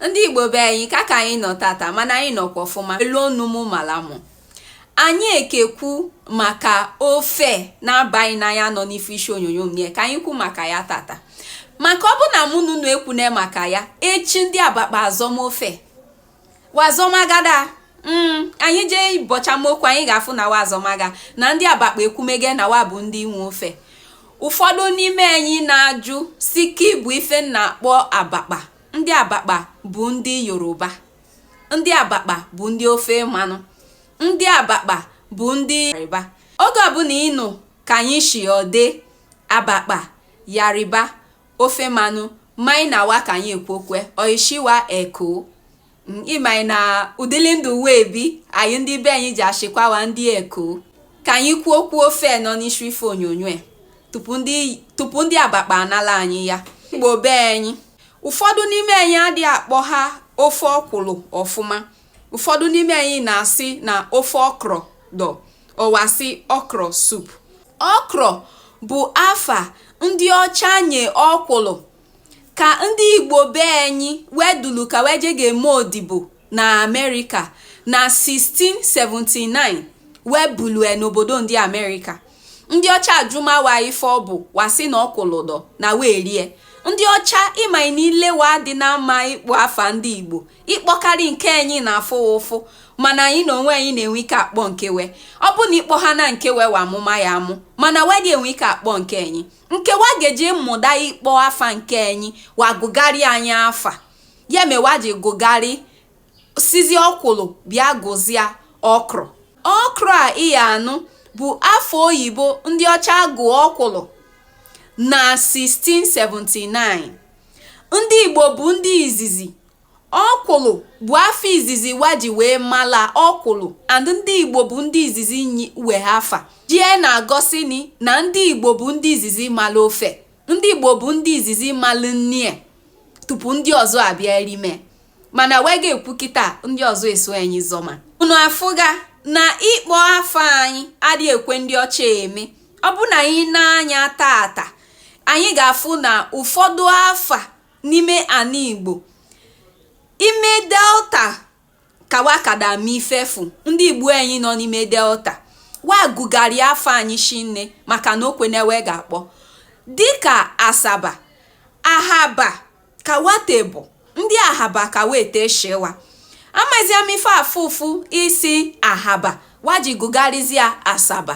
ndị igbo be anyị ka ka anyị nọ tata mana anyị nọkwa ọfụma elu ọnụ mụ mara mụ anyị ekekwu maka ofe na-aba gị n'anya nọ n'ife isi onyonyo m ka anyị kwu maka ya tata maka ọ bụ na mụ na unu ekwune maka ya echi ndị abakpa azọma ofe wa azọmagada Mm, anyị jee bọchama okwu anyị ga-afụ na wa azọmaga na ndị abakpa ekwumege na wa bụ ndị nwe ofe ụfọdụ n'ime anyị na-ajụ sị kị bụ ife na-akpọ abakpa ndị abakpa bụ ndị yoruba ndị abakpa bụ ndị ofe mmanụ ndị abakpa bụ ndị yariba oge ọbụla ị nụ ka anyị sị ndị abakpa yariba ofe mmanụ maị na wa ka anyị ekwukwe oishiwa eko Mm, ị maị na ụdịlị ndụ we ebi anyị ndị be anyị ji ashịkwa wa ndị eko ka anyị kwuo okwu ofe nọ n'isi ife onyonyo tupu ndị abakpa anala anyị ya igbo be anyị ụfọdụ n'ime anyị adị akpọ ha ofe ọkwụlụ ọfụma ụfọdụ n'ime anyị na-asị na ofe okro dọ ọ wa sị okro soup okro bụ afa ndị ọcha nye ọkwụlụ Ka ndị Igbo be anyị wedulu ka wee je ga-eme odibo na Amerịka na 1679 wee bulue n'obodo ndị Amerịka. Ndị ọcha ajụma wa ife ọ bụ wa sị na ọkwụlụ dọ na we erie. Ndị ọcha ị ma na ile wa adịna mma ịkpọ afa ndị Igbo ịkpọkarị nke anyị na-afụ ụfụ mana anyị na onwe anyị na-enwe ike akpọ nke we ọ bụ na ịkpọ ha na nke we wa amụma ya amụ mana we adị enwe ike akpọ nke anyị nke wa ga-eji mụta ịkpọ afa nke anyị wa gụgharị anyị afa ya me wa ji gụgharị sịzị ọkwụlụ bịa gụzịa okro okro a ị ya anụ bụ afa oyibo ndị ọcha gụ ọkwụlụ na 1679 ndị igbo bụ ndị izizi Ọkwụlụ bụ afa izizi wa ji wee mala ọkwụlụ and ndị Igbo bụ ndị izizi nwe afa. Jie na-egosini na ndị Igbo bụ ndị izizi mala ofe. Ndị Igbo bụ ndị izizi mala nni e tupu ndị ọzọ abịa erime. Mana we ga-ekwu kịta ndị ọzọ eso anyị zọma. Unu afụga na ịkpọ afa anyị adị ekwe ndị ọcha eme. Ọ bụ na anyị nee anya tata, anyị ga-afụ na ụfọdụ afa n'ime ana Igbo ime delta ka wa kada me ife fụ ndị Igbo anyị nọ n'ime delta wa gụgharị afa anyị shinne maka na o kwene we ga-akpọ dịka asaba ahaba ka wa te bụ ndị ahaba ka wa te shị wa amazị m ife afụfụ ịsị ahaba wa ji gụgharịzịa asaba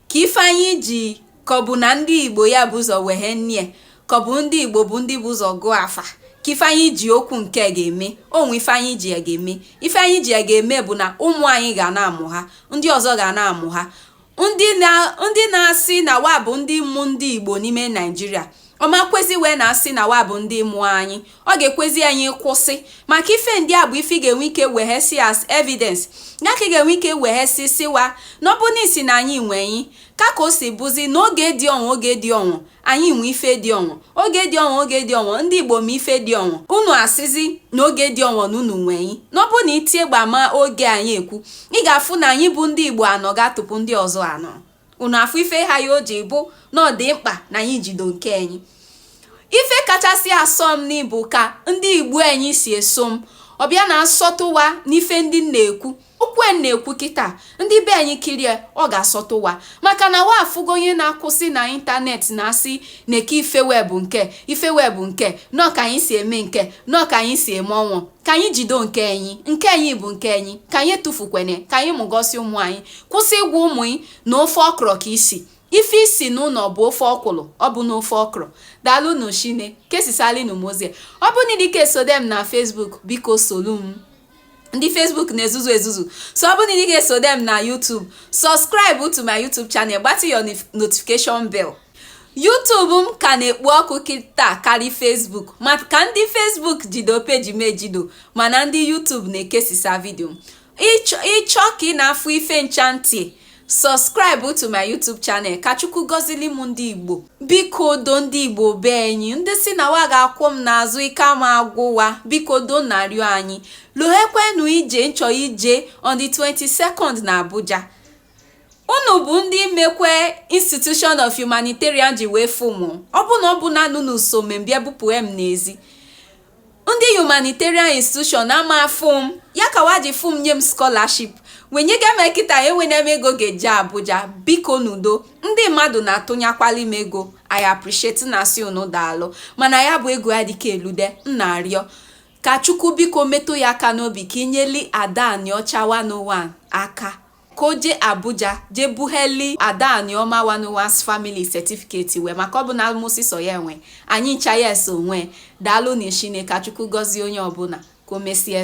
Ka ife anyị ji ka ọ bụ na ndị Igbo ya bu ụzọ weghe nnie, ka ọ bụ ndị Igbo bụ ndị bu ụzọ gụọ afa, ka ife anyị ji okwu nke a ga-eme, o nwe ife anyị ji ya ga-eme. Ife anyị ji ya ga-eme bụ na ụmụ anyị ga na-amụ ha, ndị ọzọ ga na-amụ ha. Ndị na-asị na wa bụ ndị mụ ndị Igbo n'ime Naịjirịa, ọ ma ekwezi wa na-asị na wa bụ ndị mụ anyị, ọ ga-ekwezi anyị kwụsị maka ife ndị a bụ ife ị ga-enwe ike weghesi as evidence ya ka ị ga-enwe ike weghesisi wa na ọ bụ na ịsị na anyị nwe anyị ka ka o si bụzi na oge dị ọnwụ oge dị ọnwụ anyị nwe ife dị ọnwụ oge dị ọnwụ oge dị ọnwụ ndị Igbo ma ife dị ọnwụ unu asịzi na oge dị ọnwụ na unu nwe anyị na ọ bụ na itie gbama oge anyị ekwu ị ga-afụ na anyị bụ ndị Igbo anọ ga-atụpụ ndị ọzọ anọ unu afụ ife ha ya o ji bụ na ọ dị mkpa na anyị jido nke anyị ife kachasị asọ m n'ịbụ ka ndị igbo anyị si eso m ọbịa na-asọtụwa n'ife ndị na-ekwu okwu a na-ekwu kịta ndị be anyị kirie ọ ga-asọtụwa maka na wa afụgo onye na-akwụsị na ịntanetị na-asị na-eke ife webụ nke ife webụ nke nọ ka anyị si eme nke nọ ka anyị si eme ọnwụ ka anyị jido nke anyị nke anyị bụ nke anyị ka anyị tụfukwene ka anyị wegosi ụmụ anyị Kwụsị ịgwa ụmụ ị na ofe ọkrọ ka i si. Ife i si n'ụnọ bụ ofe ọkwụlụ, ọ bụ na ofe ọkrọ. Daalụnụ shinne. Kesisalịnụ m ozi a. Ọ bụ na ị dịka esode m na Facebook, biko solu m. Ndị Facebook na-ezuzu ezuzu. So ọ bụ na ị dịka esode m na YouTube, subscribe to my YouTube channel, gbatị your nif- notification bell. YouTube m ka na-ekpo ọkụ kịta karị Facebook maka ndị Facebook jido peji m ejido mana ndị YouTube na-ekesisa vidio m. ị chọ ka ị na-afụ ife ncha ntị subscribe to my youtube channel ka chukwu gọzili m ndị igbo biko do ndị igbo be anyị ndị sị na wa ga-akwụ m n'azụ ike ama agwụ wa biko do m na-arịọ anyị lohekwenu ije m chọ ije on the 22nd na abuja unu bụ ndị mekwe institution of humanitarian ji wee fụ m ọ bụ na ọ bụ na unu so me m bịa bupụ m n'ezi Ndị Humanitarian Institution ama afụ m, ya ka wa ji fụ m nye m scholarship. Wa enyega m kịta enwene m ego ga-eje Abuja, bikonụ do. Ndị mmadụ na-atụnyakwali m ego, I appreciate m na-asị unu daalụ. Mana ya bụ ego adịka elude, m na-arịọ. Ka Chukwu biko metụ ya aka n'obi ka i nyeli Ada Anịọcha 101 aka. ka o jee Abuja jee bugheli Ada Anioma 101's family certificate wee maka ọ bụ na mụ sọsọ ya enwe anyị ncha ya eso nwe daalụnụ shinne ka Chukwu gọzie onye ọbụla ka o mesie